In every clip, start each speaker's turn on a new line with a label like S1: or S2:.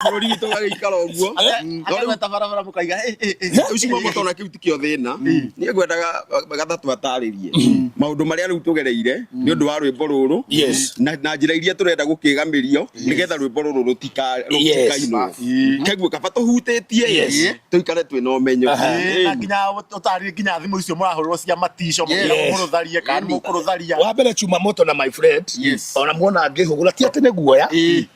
S1: bũrũri witũ gagĩikara ũguo Mm. No rĩu- akagweta barabara
S2: mũkaiga "Ĩ, ĩ, ĩ." rĩu cimo mũtona
S1: kĩu ti kĩo thĩna niĩ ngwendaga gathatũ atarĩrie maũndũ marĩa rĩu tũgereire nĩ ũndũ wa rwĩmbo rũrũ Yes. na na njĩra iria tũrenda gũkĩgamĩrio nĩgetha rwĩmbo rũrũ rũtika- rũtikainwo keguo kaba tũhutĩtie Yes. tũikare twĩ na ũmenyo Aha. Ĩ, na nginya
S2: ũtarire nginya thimũ icio mũrahũrĩrwo cia matico mũkĩra Yes. mũkũrũtharia kana nĩ mũkũrũtharia wa mbere chuma moto na
S3: my friend Yes. ona muona ngĩhũgũra ti atĩ nĩ guoya Ĩ.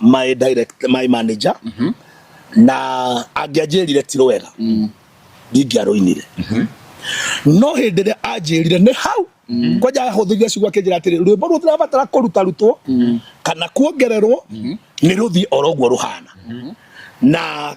S3: my direct my manager mm -hmm. na angĩanjĩrire ti rwega mm. ndingĩarũinire mm -hmm. no hĩndĩ ĩrĩa anjĩrire nĩ hau mm. kwanja ahũthĩria ciugo akĩnjĩra atĩrĩ rwĩmbo rũu tũrabatara kũruta rutwo mm. kana kuongererwo mm. nĩ rũthiĩ oro ũguo rũhana mm. na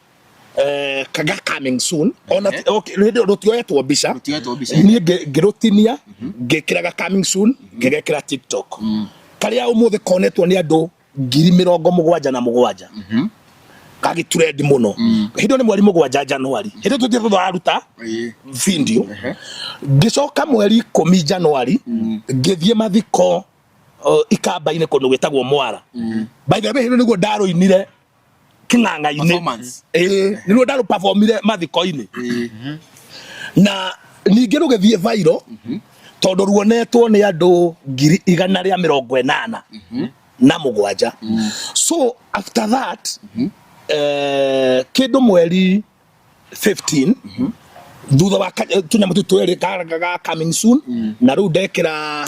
S3: eh, kaga coming soon ona Ehe. okay, hĩndĩ ĩyo rũtioetwo mbica Rũtioetwo mbica. niĩ ngĩ- ngĩrũtinia ngĩkĩraga coming soon ngĩgekĩra tiktok karĩa ũmũthĩ konetwo nĩ andũ ngiri mĩrongo mũgwanja na mũgwanja gagĩturendi mũno hĩndĩ ĩyo nĩ mweri mũgwanja januari hĩndĩ tũthiĩ tũraruta Ĩĩ. video ngĩcoka mweri ikũmi januari ngĩthiĩ mathiko uh, ikamba-inĩ kũndũ gwĩtagwo mwara by the way hĩndĩ nĩguo ndarũinire kĩng'ang'a-inĩ ĩĩ nĩruo nda rũpavomire mathiko-inĩ na ningĩ rũgĩthiĩ vairo tondũ ruonetwo nĩ andũ ngiri igana rĩa mĩrongo ĩnana na mũgwanja so after that eh, kĩndũ mweri 15 thutha wa ka- tũnyamũ tũtũ twĩrĩ ka- ga- ga coming soon na rĩu ndekĩra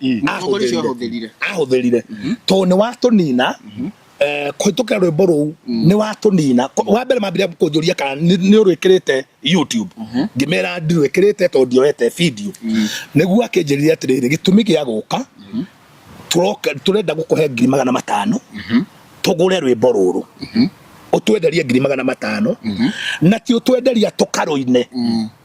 S3: Mm. Na mũtongoria ũcio ahũthĩrire. ahũthĩrire ahũthĩrire tondũ nĩ watũnina eh, kũhĩtũkĩra rwĩmbo rũu nĩ watũnina Ko- wa mbere mambire kũnjũria kana nĩ nĩ ũrwĩkĩrĩte youtube ngĩmera ndirwĩkĩrĩte tondũ ndioete video nĩguo akĩnjĩrire atĩrĩrĩ gĩtũmi gĩa gũka tũroka- tũrenda gũkũhe ngiri magana matano tũgũre rwĩmbo rũrũ ũtwenderie ngiri magana matano na ti ũtwenderia tũkarũine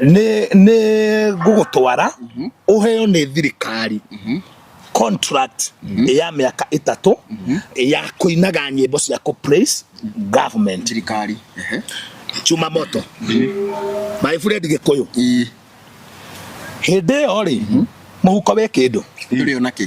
S3: nĩ nĩ ngũgũtwara ũheo nĩ thirikari contract ya mĩaka ĩtatũ ya kũinaga nyĩmbo cia kũ praise government thirikari
S1: ehe chuma
S3: moto my friend gĩkũyũ Ii, hĩndĩ ĩyo rĩ mũhuko wĩ kĩndũ ndũrĩ ona kĩ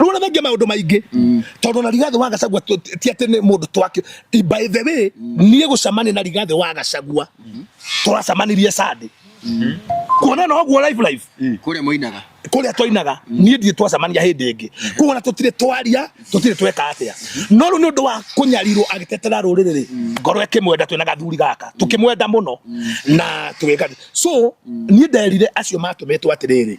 S3: rona mengi maundu maingi mm. tondu na rigathi wa gacagua ti ati ni mundu twake by the way mm. nie gucamani na rigathi wa gacagua mm-hmm. turacamanirie sande mm-hmm. kuona no guo live live mm. kuria muinaga
S1: kuria twainaga
S3: mm. nie ndie twacamania hindi ingi kuona tutire twaria tutire tweka atia no ru ni undu wa kunyarirwo agitetera ruriri ri ngoro ikimwenda twina gathuri gaka tukimwenda muno na tugeka so nie nderire acio matumetwo atiriri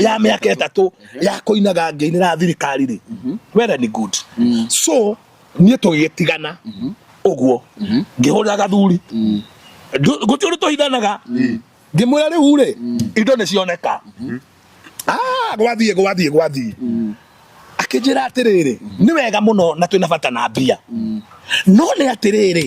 S3: ya mĩaka ĩtatũ mhm. ya kũinaga ngĩinĩra thirikari rĩ mhm. well and good mhm. so niĩ tũgĩtigana ũguo ngĩhũrĩra gathuri gũtirĩ ũndũ tũhithanaga ngĩmwĩra rĩu rĩ indo nĩ cioneka ah, gwathiĩ gwathiĩ gwathiĩ akĩnjĩra atĩrĩrĩ nĩ wega mũno na twĩna bata na mbia no nĩ atĩrĩrĩ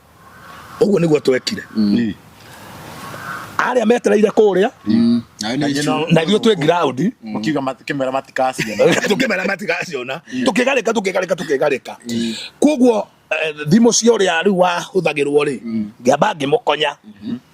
S3: ũguo nĩguo twekire mm. arĩa metereire kũrĩa mm. na ithuĩ twĩ ground mm. tũkĩmera
S2: matikaciona tũkĩmera matikaciona tũkĩgarĩka
S3: tũkĩgarĩka tũkĩgarĩka koguo eh, thimũ cia ũrĩa rĩu wahũthagĩrwo rĩ ngĩamba ngĩmũkonya mm-hmm.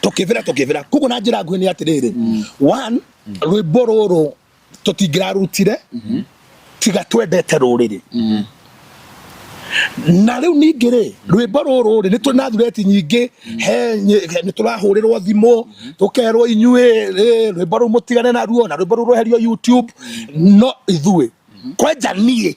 S3: tukivira tukivira kuguo na njira nguhi ni atiriri mm. one mm. rwimbo ruru tutingirarutire mm-hmm. tiga twendete ruriri mm-hmm. na riu ningi ri rwimbo ruru ri ni turi na thureti nyingi mm-hmm. he ni turahurirwo thimu tukerwo inyui rwimbo ruu mutigane naruo na rwimbo ruru rweherio youtube no ithui kwenja nie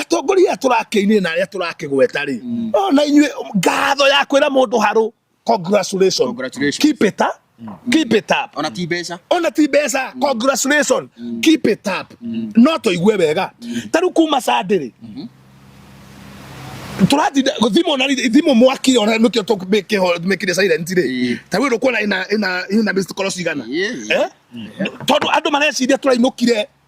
S3: atongoria tũrakĩinire na arĩa tũrakĩgweta rĩ mm. oh, na inyuĩ ngatho ya kwĩra mũndũ harũ congratulations. Congratulations. Keep it up. Mm. Keep it up. Ona ti mbeca. Ona ti
S1: mbeca. Mm.
S3: Congratulations. Mm. Keep it up. Mm. No toigue wega. Mm. Taru kuma sandiri. Mm -hmm. turatinda thimo na thimo mwaki ona nukio to meke ho meke de silent ri ta wiro kuona ina ina ina mr call cigana eh tondu andu mareciria turainukire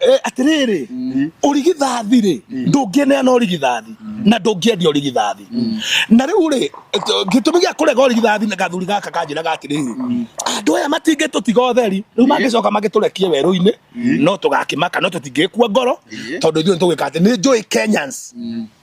S2: Eh,
S3: atiriri mm. urigithathi ri mm. ndungineana urigithathi mm. na ndungiendia urigithathi na riu ri gitumi gia kurega urigithathi na gathuri gaka kanjiraga atiriri andu aya matingitutiga utheri riu magicoka magiturekie werũ-inĩ no tũgakĩmaka no tũtingĩkua ngoro tondũ ithuĩ nĩtũgwĩka atĩ nĩ njũĩ kenyans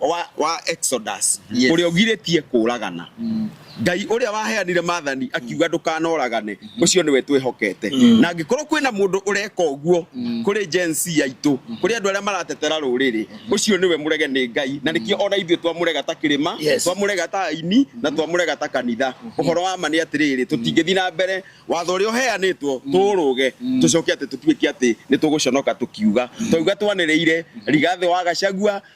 S1: wa, wa Exodus Yes. ũrĩa ũgirĩtie kũũragana ngai ũrĩa waheanire mathani akiuga ndũkanoragane ũcio nĩwe twĩhokete na angĩkorwo kwĩna mũndũ ũreka ũguo kũrĩ Gen Z aitũ kũrĩ andũ arĩa maratetera rũrĩrĩ ũcio nĩwe mũrege nĩ ngai na nĩkĩo ona ithuĩ twamũrega ta kĩrĩma Yes. twamũrega ta aini na twamũrega ta kanitha ũhoro wa ma nĩ atĩrĩrĩ tũtingĩthiĩ na mbere watho ũrĩa ũheanĩtwo tũũrũge tũcoke atĩ tũtuĩke atĩ nĩ tũgũconoka tũkiuga twauga twanĩrĩire rigathĩ wa gacagua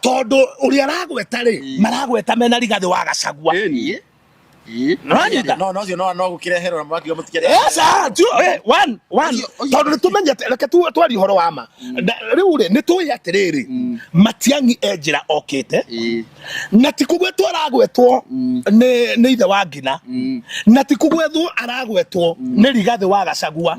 S3: tondu uri aragweta ri maragweta mena rigathi wa gacagua nonyita no
S2: no cio no no gukireherwo na mwaki mutikere esa tu eh, one one
S3: tondu ni tumenyete reke tu twari horo wa ma mm. riu ri ni tuyi atiriri mm. matiangi enjira okite na ti kugwetwo aragwetwo mm. ni ni ithe wa ngina na ti kugwetwo aragwetwo ni rigathi wa gacagua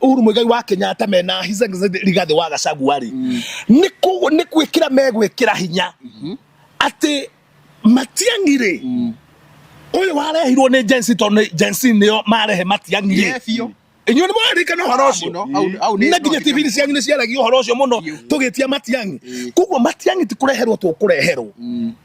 S3: Uhuru Muigai wa Kenyatta mena His Excellency Rigathi wa Gachagua rĩ mm. nĩ kũ nĩ gwĩkĩra megwĩkĩra hinya mm-hmm. atĩ Matiang'i rĩ mm. ũyũ warehirwo nĩ Gen Z tondũ Gen Z nĩo marehe Matiang'i rĩ inyuĩ nĩ mwarĩkana ũhoro ũcio na nginya TV inĩ cianyu nĩ ciaragia ũhoro ũcio mũno tũgĩtia Matiang'i koguo Matiang'i ti kũreherwo tũkũreherwo mm.